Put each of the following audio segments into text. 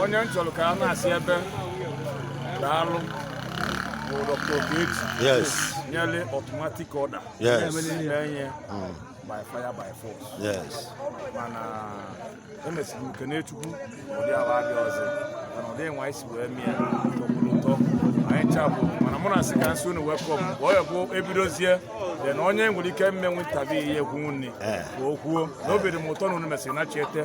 onye m chọrọ ka a na-asị ebe daalụ bụ Dr. Ogechi yes nyere automatic order Yes. na-enye Mm. by fire by force yes mana emesiri m kene chukwu ụdị ahụ adị ọzọ mana ụdị nwa anyị si wee mee ya tọkwuru ụtọ anyị chabụ mana mụ na-asị ka m sị unu welcome ka ọ ya bụ ebidozie then onye nwere ike mmenwu ntabi ihe ekwu nri Eh. ka o kwuo na obi dị m ụtọ na unu mesịrị nachiete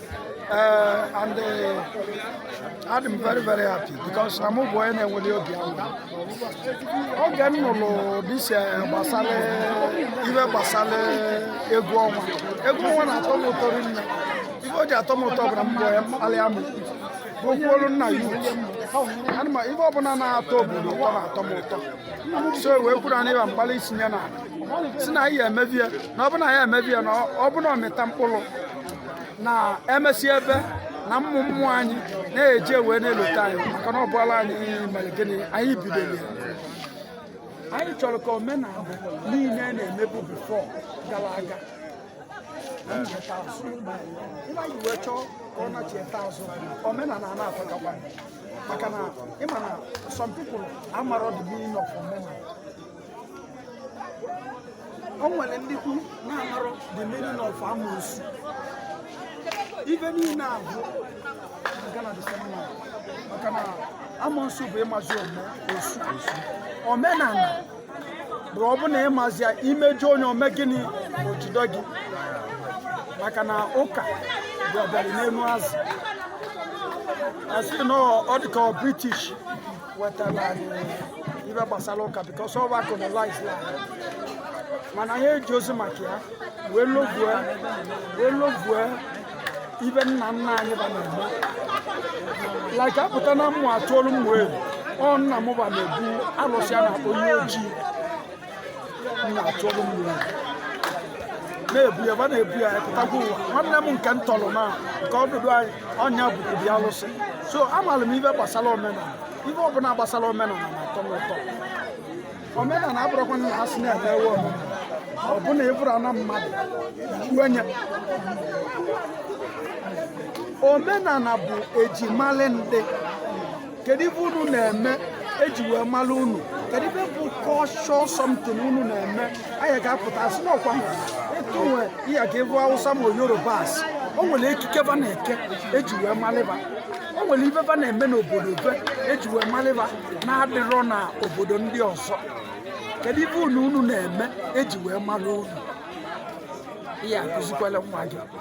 Uh, and uh, I'm very very happy because I'm a boy and I will be oge m nụrụ this gbasara ive gbasara egwu ọnwa egwu ọnwa na-atọ m ụtọ rinne ive o ji atọ m ụtọ bụra mbọ ya mkpali amụ okwuolu nna ya ana m ive ọbụla na-atọ obodo ụtọ na-atọ m ụtọ so wee kwuru na ịba mgbalị isinye na si na anyị ya emebi ya na ọbụna ya emebi ya na ọbụna ọ mịta mkpụrụ na emesịa ive na ụmụ ụmụ anyị na-eji wee na-elota anyị maka na ọ bụla anyị mere gịnị anyị bidoro anyị chọrọ ka omenala niile na-emebu before gara aga anyị wee chọọ ka ọ nachieta azụ omenala a na-afakakwa maka na ịma na some people amarọ the meaning of omenala o nwere ndị kwu na-amarọ the meaning of amoosu ife niile ahụ aga na the same way maka na amoosu bụ ịmazi ome osu omenala bụ ọ bụ na ịmazi ya imejọ onye o mee gịnị ma o jide gị maka na ụka bụ ọbịara n'elu azụ asị na ọ dịka british wetara anyị ive gbasara ụka because ọ va colonize-lụ anyị mana anyị ejirọzi maka ya wee lovue wee lovue ive nna nna anyị va na-emebu like apụta na Ụmụatụolu Ụmụeri ọ nna m va na-ebu alụsị a na-akpọ Iyi Ọji na-ebu ya va na-ebu ya pụtakwa ụwa nwanne m nke m tọrọ na nke ọdụdụ anyị ọ ya bukwuru ya alụsị so amaara m ive gbasara omenala ive ọbụla gbasara omenala na-atọ m ụtọ omenala abụrọkwa na ha si na-eme ewe omenala ọbụna ịbụrụ na mmadụ onye omenala bụ e ji mali ndị kedu ife unu na-eme eji wee mara unu kedu ife bụ culture something unu na-eme anyị ga-apụta asị n'ọkwa etu nwa ị ya-aga ebe awụsa ma yoruba asị o nwere ekike va na-eke eji wee malị va o nwere ife va na-eme n'obodo be eji wee malị va na-adịrọ na obodo ndị ọzọ kedu ife unu unu na-eme eji wee mara unu ị ya-akụzikwara nwa gị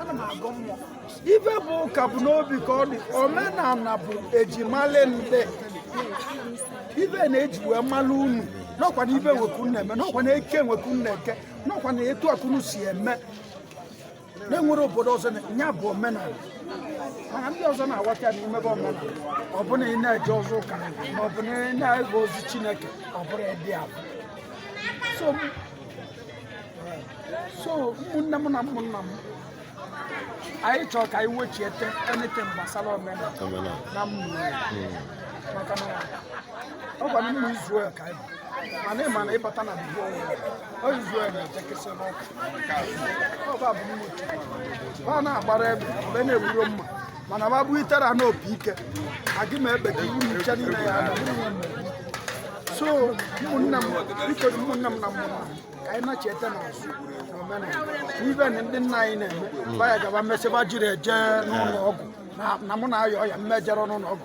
ana m agụ mmụọ ife bụ ụka bụ n'obi ka ọ dị omenala bụ ejimalụ ndị ife na-eji wee malụ unu n'ọkwa na ive nwa ka unu na-eme n'ọkwa na eke nwa ka unu na-eke n'ọkwa na etu a ka unu si eme na-enwere obodo ọzọ ya bụ omenala mana ndị ọzọ na-aghọta ya n'ime bụ omenala ọ bụrụ na ị na-eje ụzọ ụka ma ọ bụ na ị na-ege ozi chineke ọ bụrụ ịdị abụ so so ụmụnne m na ụmụnna m anyị chọrọ ka anyị wechiete anything gbasara omenala na mmụọ hmm. maka na ọ gwara ụmụ Israel ka anyị mana ịma na ịbata na Bible ọ Israel na-ejekesị n'ọkụ ọba bụ mmụọ ha na-agbara ebe mgbe na-egburo mma mana ma bụ itere a n'obi ike agị ma ebe ka iwu nche niile ya na so ụmụnne m biko ụmụnne m na ụmụnna m ka anyị na-echeta na azụ na omenala ive na ndị nna anyị na-eme baya gaba mesịba jiri eje n'ụlọ ọgwụ na mụ na-ayọ ọya mmejere n'ụlọ ọgwụ